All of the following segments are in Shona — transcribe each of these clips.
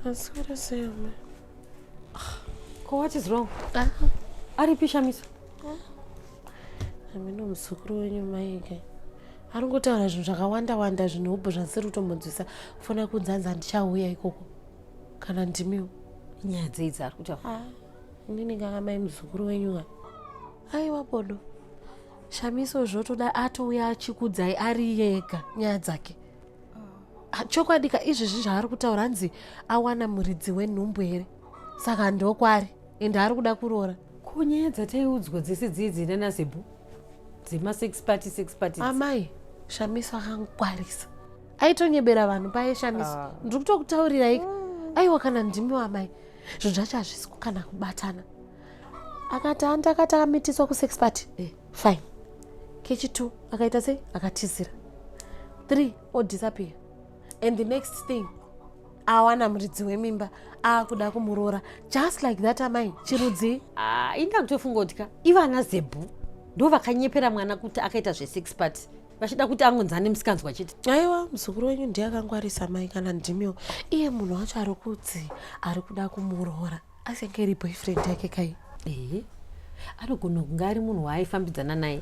Asi uri sei amai? Ko what is wrong? Ah. Aripi Shamiso? Ah. Hameno muzukuru wenyu maike. Ari kungotaura zvinhu zvakawanda wanda zvinhu hobho zvasiri kutombonzwisa fona kunzanza ndichauya ikoko kana ndimiwo. Nyaya dzei dzaari kutaura? Ah. Inini nganga mai muzukuru wenyu ka. Aiwa bodo. shamiso zvotoda atouya achikudzai ari yega nyaya dzake ah, chokwadi ka izvezvi zvaari kutaura hanzi awana muridzi wenhumbu here saka ndokwari ende ari kuda kuroora ko nyaya dzataiudzwa dzese dziidzi nanazebhu dzema six party six party amai shamiso akangwarisa aitonyebera vanhu paye shamiso ah. ndiri kutokutaurirai aiwa kana ndimi wamai zvinhu zvacho hazvisi kukana kubatana akati handi akati akamitiswa kusex party eh, fine kechi two akaita sei akatizira three odisappear and the next thing awana muridzi wemimba akuda kumuroora just like that amai chirudzii ah, inda kutofunga kuti ka ivana zebhu ndo vakanyepera mwana kuti akaita zvesex party vachida kuti angonzani musikanzwa chete aiwa muzukuru wenyu ndiye akangwarisa mai kana ndimiwo iye munhu wacho ari kudzi ari kuda kumuroora asi yake iri boyfriend yake kai ehe anogona kunge ari munhu waaifambidzana naye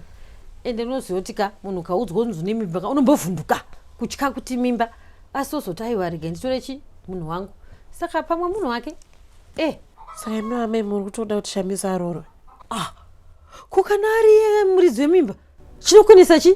ende unoziva kuti ka munhu ukaudzwa unzi une mimba ka unombovhunduka kutya kuti mimba asi ozoti aiwa rega nditore chi munhu wangu saka pamwe munhu wake e saka imi vamai muri kutoda kuti shamisa aroorwe ah ko kana ari iye muridzi wemimba chinokwanisa chii